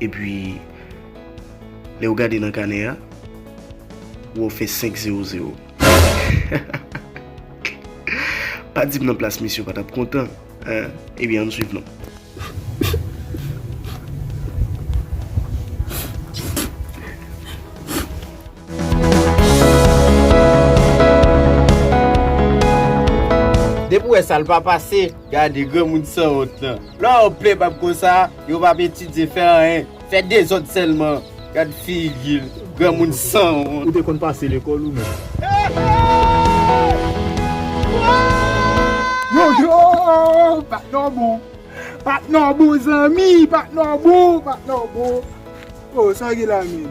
E pi, lè ou gade nan kanè a, ou wè ou fè 5 zewo zewo. Pa di m nan plas misye ou pa t ap kontan. E byen, an n swiv non. Depi ou wè sa l pa pase. Gade granmoun sanwont lan. Lè w plen bab konsa yo pap etidye fè anyen fè dezòd sèlman gad figi l granmoun sanwont. Ou te konn pase lekòl ou menm. Yo yo patnè w bon patnè w bon zanmi patnè w bon patnè w bon oh sa gen la menm.